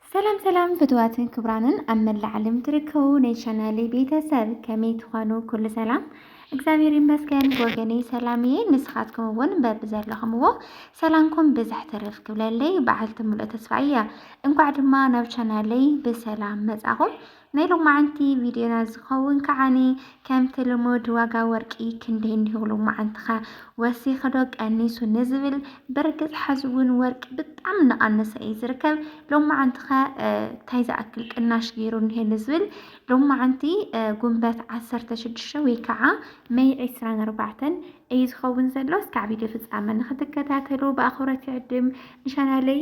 ሰላም ሰላም ፍትዋትን ክብራንን ኣብ መላእ ዓለም ትርከቡ ናይ ቻናሌ ቤተሰብ ከመይ ትኾኑ? ኩሉ ሰላም እግዚኣብሔር ይመስገን ብወገነይ ሰላም እየ። ንስኻትኩም እውን በቢ ዘለኹምዎ ሰላምኩም ብዝሕ ትርፍ ክብለለይ በዓልቲ ሙሉእ ተስፋ እያ። እንኳዕ ድማ ናብ ቻናለይ ብሰላም መጻኹም። ናይ ሎማዓንቲ ቪድዮና ዝከውን ከዓኒ ከምቲ ልሙድ ዋጋ ወርቂ ክንደይ እንዲሁ ሎማዓንትከ ወሲኩ ዶ ቀኒሱ ንዝብል ብርግፅ ሐዚ እውን ወርቂ ብጣዕሚ እናቀነሰ እዩ ዝርከብ ሎማዓንትከ ታይ ዝኣክል ቅናሽ ገይሩ እኒሀ ንዝብል ሎማዓንቲ ጉንበት ዓሰርተ ሽዱሽተ ወይ ከዓ መይ ዕስራን ኣርባዕተን እዩ ዝከውን ዘሎ እስካዕ ቪድዮ ፍፃመ ንክትከታተሉ ብኣክብሮት ይዕድም ንቻናለይ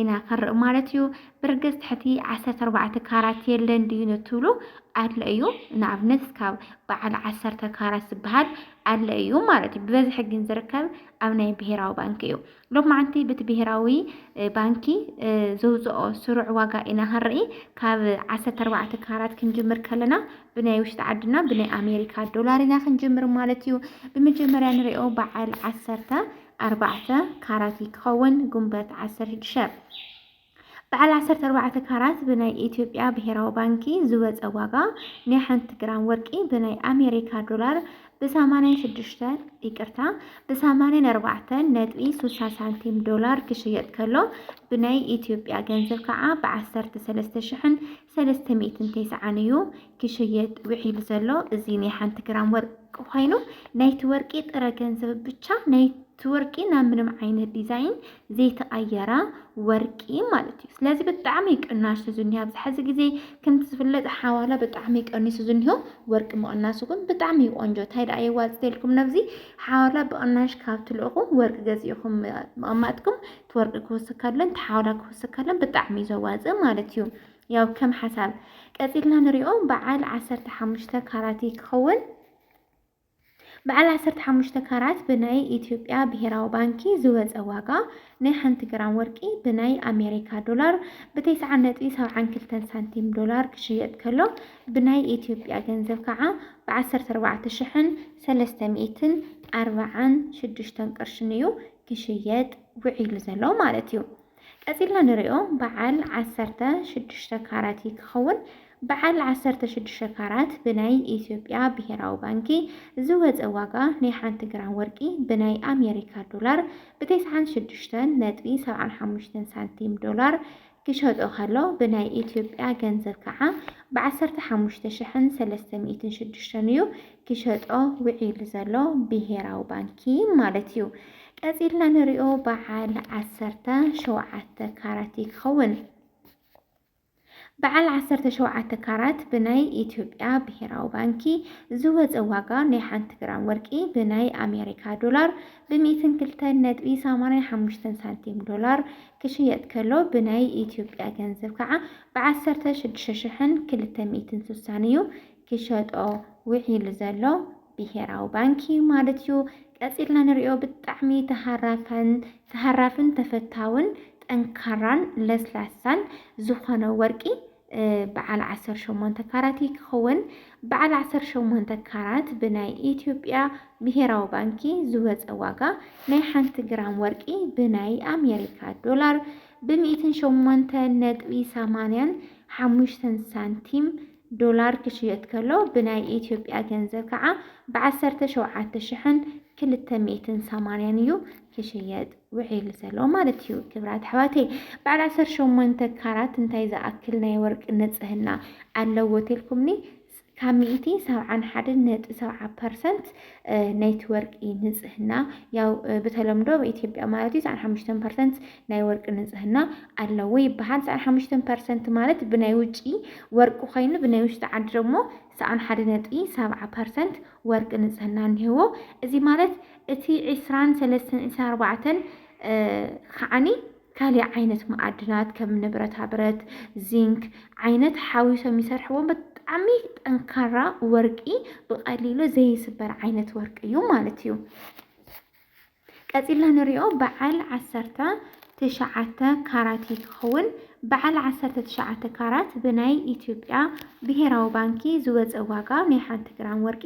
ኢና ክንርኢ ማለት እዩ። ብርግጽ ትሕቲ ዓሰርተ ኣርባዕተ ካራት የለን ድዩ ንትብሉ ኣለ እዩ። ንኣብነት እስካብ በዓል ዓሰርተ ካራት ዝበሃል ኣለ እዩ ማለት እዩ። ብበዝሒ ግን ዝርከብ ኣብ ናይ ብሄራዊ ባንኪ እዩ። ሎማዓንቲ ብቲ ብሄራዊ ባንኪ ዘውፅኦ ስሩዕ ዋጋ ኢና ክንርኢ ካብ ዓሰርተ ኣርባዕተ ካራት ክንጅምር ከለና ብናይ ውሽጢ ዓድና ብናይ ኣሜሪካ ዶላር ኢና ክንጅምር ማለት እዩ። ብመጀመርያ ንሪኦ በዓል ዓሰርተ ኣርባዕተ ካራት እዩ ክኸውን ጉንበት ዓሰርተ ሽዱሽተ በዓል ዓሰርተ ኣርባዕተ ካራት ብናይ ኢትዮጵያ ብሄራዊ ባንኪ ዝወፀ ዋጋ ናይ ሓንቲ ግራም ወርቂ ብናይ ኣሜሪካ ዶላር ብሰማንያን ሽዱሽተ ይቅርታ ብሰማንያን ኣርባዕተ ነጥቢ ስልሳ ሳንቲም ዶላር ክሽየጥ ከሎ ብናይ ኢትዮጵያ ገንዘብ ከዓ ብዓሰርተ ሰለስተ ሽሕን ሰለስተ ሚእትን ቴስዓን እዩ ክሽየጥ ውዒሉ ዘሎ። እዚ ናይ ሓንቲ ግራም ወርቂ ኮይኑ ናይቲ ወርቂ ጥረ ገንዘብ ብቻ ናይ እቲ ወርቂ ናብ ምንም ዓይነት ዲዛይን ዘይተቐየረ ወርቂ ማለት እዩ። ስለዚ ብጣዕሚ ቅናሽ እዩ ዝኒሀ ኣብዚ ሕዚ ግዜ ከምቲ ዝፍለጥ ሓዋላ ብጣዕሚ ቀኒሱ ዝኒሆ ወርቂ ምቕናሱ ግን ብጣዕሚ እዩ ቆንጆ። እንታይ ደኣ የዋፅእ ኢልኩም ነብዚ ሓዋላ ብቕናሽ ካብ ትልእኹ ወርቂ ገዚእኹም ምቕማጥኩም እቲ ወርቂ ክውስክ ከሎን እቲ ሓውላ ክውስክ ከሎን ብጣዕሚ እዩ ዘዋፅእ ማለት እዩ። ያው ከም ሓሳብ ቀፂልና ንሪኦ በዓል ዓሰርተ ሓሙሽተ ካራት እዩ ክኸውን በዓል 15 ካራት ብናይ ኢትዮጵያ ብሄራዊ ባንኪ ዝወፀ ዋጋ ናይ ሓንቲ ግራም ወርቂ ብናይ ኣሜሪካ ዶላር ብተስዓ ነጥቢ ሰብዓን ክልተን ሳንቲም ዶላር ክሽየጥ ከሎ ብናይ ኢትዮጵያ ገንዘብ ከዓ ብዓሰርተ ኣርባዕተ ሽሕን ሰለስተ ሚእትን ኣርባዓን ሽዱሽተን ቅርሽን እዩ ክሽየጥ ውዒሉ ዘሎ ማለት እዩ። ቀጺልና ንሪኦ በዓል ዓሰርተ ሽዱሽተ ካራት እዩ ክኸውን። በዓል ዓሰርተ ሽዱሽተ ካራት ብናይ ኢትዮጵያ ብሄራዊ ባንኪ ዝወፀ ዋጋ ናይ ሓንቲ ግራም ወርቂ ብናይ ኣሜሪካ ዶላር ብተስዓን ሽዱሽተን ነጥቢ ሰብዓን ሓሙሽተን ሳንቲም ዶላር ክሸጦ ከሎ ብናይ ኢትዮጵያ ገንዘብ ከዓ ብዓሰርተ ሓሙሽተ ሽሕን ሰለስተ ሚእትን ሽዱሽተን እዩ ክሸጦ ውዒሉ ዘሎ ብሄራዊ ባንኪ ማለት እዩ። ቀፂልና ንሪኦ በዓል ዓሰርተ ሸውዓተ ካራት እዩ ክኸውን። በዓል ዓሰርተ ሸውዓተ ካራት ብናይ ኢትዮጵያ ብሄራዊ ባንኪ ዝወፀ ዋጋ ናይ ሓንቲ ግራም ወርቂ ብናይ ኣሜሪካ ዶላር ብሚእትን ክልተን ነጥቢ ሰማንያን ሓሙሽተን ሳንቲም ዶላር ክሽየጥ ከሎ ብናይ ኢትዮጵያ ገንዘብ ከዓ ብዓሰርተ ሽዱሽተ ሽሕን ክልተ ሚእትን ስሳን እዩ ክሸጦ ውዒሉ ዘሎ ብሄራዊ ባንኪ ማለት እዩ። ቀፂልና ንሪኦ ብጣዕሚ ተሃራፋን ተሃራፍን ተፈታውን ጠንካራን ለስላሳን ዝኾነ ወርቂ በዓል ዓሰርተ ሸሞንተ ካራት እዩ ክኸውን። በዓል ዓሰርተ ሸሞንተ ካራት ብናይ ኢትዮጵያ ብሄራዊ ባንኪ ዝወፀ ዋጋ ናይ ሓንቲ ግራም ወርቂ ብናይ ኣሜሪካ ዶላር ብሚእትን ሸሞንተ ነጥቢ ሰማንያን ሓሙሽተን ሳንቲም ዶላር ክሽየጥ ከሎ ብናይ ኢትዮጵያ ገንዘብ ከዓ ብዓሰርተ ሸውዓተ ሽሕን ክልተ ሚእትን ሰማንያን እዩ ክሽየጥ ውዒሉ ዘሎ ማለት እዩ። ክብራት ኣሕዋተይ በዓል ዓሰርተ ሸሞንተ ካራት እንታይ ዝኣክል ናይ ወርቂ ንፅህና ኣለዎ ትልኩምኒ ካብ ሚእቲ ሰብዓን ሓደ ነጥቢ ሰብዓ ፐርሰንት ናይቲ ወርቂ ንፅህና ያው ብተለምዶ ኣብ ኢትዮጵያ ማለት እዩ ሰዓን ሓሙሽተ ፐርሰንት ናይ ወርቂ ንፅህና ኣለዎ ይበሃል። ሰዓን ሓሙሽተ ፐርሰንት ማለት ብናይ ውጪ ወርቂ ኮይኑ ብናይ ውሽጢ ዓዲ ደግሞ ሰኣን ሓደ ነጥቢ ሰብዓ ፐርሰንት ወርቂ ንጽህና እኒሀዎ። እዚ ማለት እቲ ዕስራን ሰለስተን ዕስራን ኣርባዕተን ከዓኒ ካሊእ ዓይነት መኣድናት ከም ንብረታ ብረት፣ ዚንክ ዓይነት ሓዊሶም ይሰርሕዎም። ብጣዕሚ ጠንካራ ወርቂ ብቐሊሉ ዘይስበር ዓይነት ወርቂ እዩ ማለት እዩ። ቀጺልና ንሪኦ በዓል ዓሰርተ ትሽዓተ ካራት እዩ ክኸውን። በዓል ዓሰርተ ትሽዓተ ካራት ብናይ ኢትዮጵያ ብሄራዊ ባንኪ ዝወፀ ዋጋ ናይ ሓንቲ ግራም ወርቂ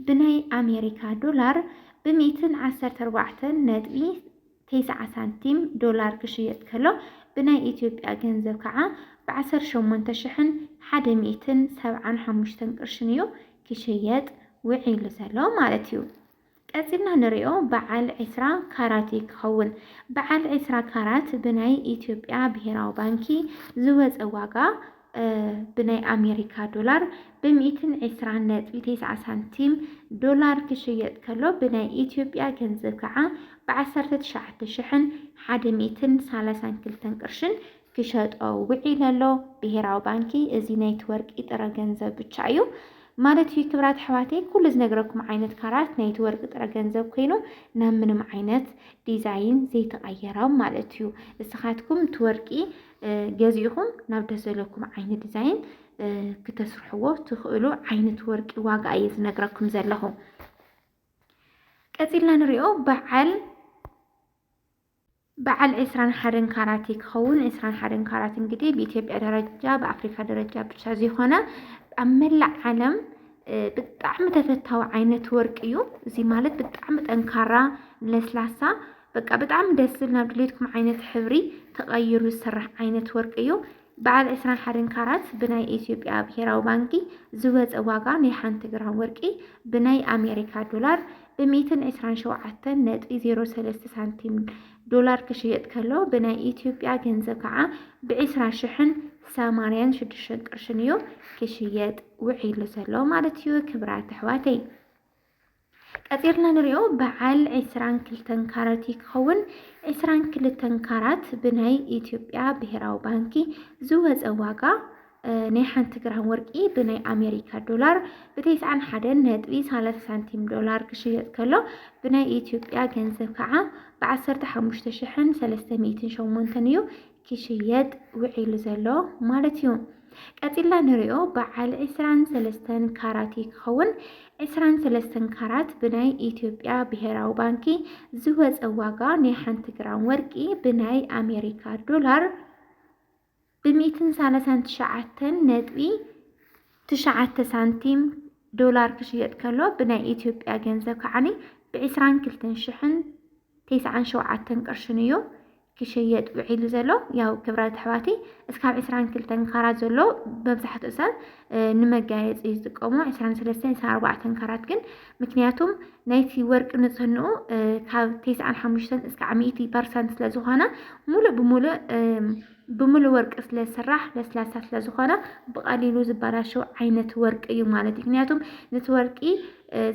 ብናይ ኣሜሪካ ዶላር ብሚእትን ዓሰርተ ኣርባዕተን ነጥቢ ቴስዓ ሳንቲም ዶላር ክሽየጥ ከሎ ብናይ ኢትዮጵያ ገንዘብ ከዓ ብዓሰርተ ሸሞንተ ሽሕን ሓደ ሚእትን ሰብዓን ሓሙሽተን ቅርሽን እዩ ክሽየጥ ውዒሉ ዘሎ ማለት እዩ። ቀጺልና ንሪኦ በዓል ዕስራ ካራት እዩ ክኸውን። በዓል ዕስራ ካራት ብናይ ኢትዮጵያ ብሄራዊ ባንኪ ዝወጸ ዋጋ ብናይ ኣሜሪካ ዶላር ብሚእትን ዕስራን ነጥቢ ቴስዓ ሳንቲም ዶላር ክሽየጥ ከሎ ብናይ ኢትዮጵያ ገንዘብ ከዓ ብዓሰርተ ትሽዓተ ሽሕን ሓደ ሚእትን ሳላሳን ክልተን ቅርሽን ክሸጦ ውዒለ ኣሎ ብሄራዊ ባንኪ እዚ ናይቲ ወርቂ ጥረ ገንዘብ ብቻ እዩ ማለት እዩ ክብራት ኣሕዋተይ ኩሉ ዝነግረኩም ዓይነት ካራት ናይቲ ወርቂ ጥረ ገንዘብ ኮይኑ ናብ ምንም ዓይነት ዲዛይን ዘይተቐየሮም ማለት እዩ እስኻትኩም እቲ ወርቂ ገዚእኹም ናብ ደስ ዘለኩም ዓይነት ዲዛይን ክተስርሕዎ ትኽእሉ ዓይነት ወርቂ ዋጋ እየ ዝነግረኩም ዘለኹ ቀፂልና ንሪኦ በዓል በዓል ዕስራን ሓደን ካራቲ ክኸውን ዕስራን ሓደን ካራት እንግዲህ ብኢትዮጵያ ደረጃ ብኣፍሪካ ደረጃ ብቻ ዘይኮነ ኣብ መላእ ዓለም ብጣዕሚ ተፈታዊ ዓይነት ወርቂ እዩ። እዚ ማለት ብጣዕሚ ጠንካራ ለስላሳ በቃ ብጣዕሚ ደስ ዝብል ናብ ድሌትኩም ዓይነት ሕብሪ ተቐይሩ ዝስራሕ ዓይነት ወርቂ እዩ። በዓል ዕስራን ሓደን ካራት ብናይ ኢትዮጵያ ብሄራዊ ባንኪ ዝወፀ ዋጋ ናይ ሓንቲ ግራም ወርቂ ብናይ ኣሜሪካ ዶላር ብሚእትን ዕስራን ሸውዓተን ነጥቢ ዜሮ ሰለስተ ሳንቲም ዶላር ክሽየጥ ከሎ ብናይ ኢትዮጵያ ገንዘብ ከዓ ብዕስራ ሽሕን ሰማንያን ሽዱሽተን ቅርሽን እዩ ክሽየጥ ውዒሉ ዘሎ ማለት እዩ ክብራት ኣሕዋተይ። ቀጺርና ንሪኦ በዓል ዕስራን ክልተን ካራት እዩ ክኸውን። ዕስራን ክልተን ካራት ብናይ ኢትዮጵያ ብሄራዊ ባንኪ ዝወፀ ዋጋ ናይ ሓንቲ ግራም ወርቂ ብናይ ኣሜሪካ ዶላር ብተስዓን ሓደን ነጥቢ ሰላሳ ሳንቲም ዶላር ክሽየጥ ከሎ ብናይ ኢትዮጵያ ገንዘብ ከዓ ብዓሰርተ ሓሙሽተ ሽሕን ሰለስተ ሚእትን ሸሞንተን እዩ ክሽየጥ ውዒሉ ዘሎ ማለት እዩ። ቀጺልና ንሪኦ በዓል ዕስራን ሰለስተን ካራት እዩ ክኸውን። ዕስራን ሰለስተን ካራት ብናይ ኢትዮጵያ ብሄራዊ ባንኪ ዝወፀ ዋጋ ናይ ሓንቲ ግራም ወርቂ ብናይ ኣሜሪካ ዶላር ብሚእትን ሰላሳን ትሽዓተን ነጥቢ ትሽዓተ ሳንቲም ዶላር ክሽየጥ ከሎ ብናይ ኢትዮጵያ ገንዘብ ከዓኒ ብዕስራን ክልተን ሽሕን ቴስዓን ሸውዓተን ቅርሽን እዩ ክሽየጥ ውዒሉ ዘሎ ያው ክብራት ኣሕዋተይ እስካብ ዕስራን ክልተን ካራት ዘሎ መብዛሕትኡ ሰብ ንመጋየፂ እዩ ዝጥቀሙ ዕስራን ሰለስተን ዕስራን ኣርባዕተን ካራት ግን ምክንያቱም ናይቲ ወርቂ ንፅህንኡ ካብ ቴስዓን ሓሙሽተን እስካዕ ሚእቲ ፐርሰንት ስለዝኾነ ሙሉእ ብሙሉእ ብምሉእ ወርቂ ስለዝስራሕ ለስላሳ ስለዝኾነ ብቐሊሉ ዝበላሸው ዓይነት ወርቂ እዩ ማለት እዩ ምክንያቱም ነቲ ወርቂ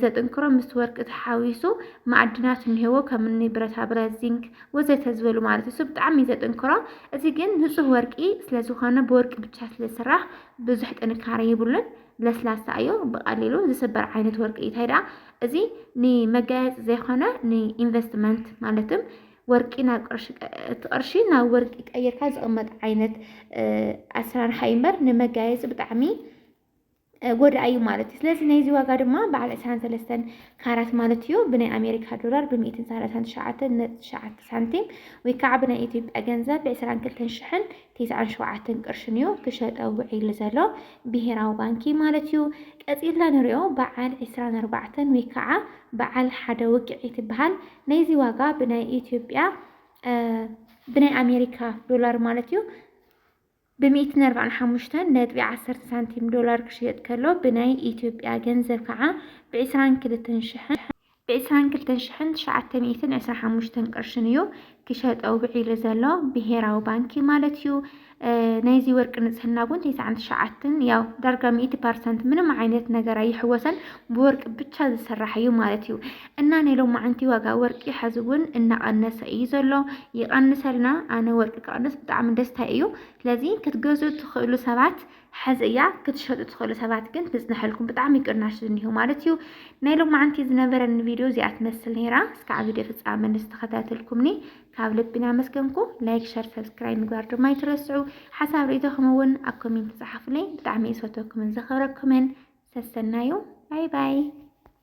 ዘጥንክሮ ምስ ወርቂ ተሓዊሱ ማዕድናት እንሄዎ ከም እኒ ብረታ ብረት፣ ዚንክ ወዘተ ዝበሉ ማለት እሱ ብጣዕሚ እዩ ዘጥንክሮ። እዚ ግን ንፁህ ወርቂ ስለዝኾነ ብወርቂ ብቻ ስለዝስራሕ ብዙሕ ጥንካረ ይብሉን ለስላሳ እዩ ብቀሊሉ ዝስበር ዓይነት ወርቂ እዩ። እንታይ ደኣ እዚ ንመጋየፂ ዘይኮነ ንኢንቨስትመንት ማለትም ወርቂ ናብ ቅርሺ እቲ ቅርሺ ናብ ወርቂ ቀይርካ ዝቕመጥ ዓይነት ኣሰራርሓ እዩ እምበር ንመጋየፂ ብጣዕሚ ጎዳኢ እዩ ማለት እዩ ስለዚ ናይዚ ዋጋ ድማ በዓል 23 ካራት ማለት እዩ ብናይ ኣሜሪካ ዶላር ብ139 ነጥቢ ትሽዓተ ሳንቲም ወይ ከዓ ብናይ ኢትዮጵያ ገንዘብ ብ22 ሽሕን ትስዓን ሸውዓተን ቅርሽን እዩ ክሸጠ ውዒሉ ዘሎ ብሄራዊ ባንኪ ማለት እዩ ቀፂልና ንሪኦ በዓል 24 ወይ ከዓ በዓል ሓደ ውቅዒ ትበሃል ናይዚ ዋጋ ብናይ ኢትዮጵያ ብናይ ኣሜሪካ ዶላር ማለት እዩ ብሚእትን ኣርባዕን ሓሙሽተን ነጥቢ ዓሰርተ ሳንቲም ዶላር ክሽየጥ ከሎ ብናይ ኢትዮጵያ ገንዘብ ከዓ ብዕስራን ክልተን ሽሕን ብዕስራን ክልተን ሽሕን ትሽዓተ ሚእትን ዕስራ ሓሙሽተን ቅርሽን እዩ ክሸጠ ውዒሉ ዘሎ ብሄራዊ ባንኪ ማለት እዩ። ናይዚ ወርቂ ንጽህና እውን ተስዓን ትሽዓትን ያው ዳርጋ ሚእቲ ፐርሰንት ምንም ዓይነት ነገር ኣይሕወሰን ብወርቂ ብቻ ዝስራሕ እዩ ማለት እዩ። እና ናይ ሎማዓንቲ ዋጋ ወርቂ ሐዚ እውን እናቀነሰ እዩ ዘሎ ይቀንሰልና ኣነ ወርቂ ክቅንስ ብጣዕሚ ደስታይ እዩ ስለዚ ክትገዝኡ ትክእሉ ሰባት ሐዚ እያ ክትሸጡ ትክእሉ ሰባት ግን ትፅነሐልኩም ብጣዕሚ ቅናሽ ዝኒሆ ማለት እዩ ናይ ሎማዓንቲ ዝነበረኒ ቪድዮ እዚኣ ትመስል ነይራ እስካዕ ቪድዮ ፍፃመ ንዝተከታተልኩምኒ ካብ ልቢ ናመስገንኩ ላይክ ሸር ሰብስክራይብ ምግባር ድማ ይትረስዑ ሓሳብ ርእቶኹም እውን ኣብ ኮሜንት ፀሓፉለይ ብጣዕሚ እየ ዝፈትወኩምን ዘክብረኩምን ሰሰናዩ ባይ ባይ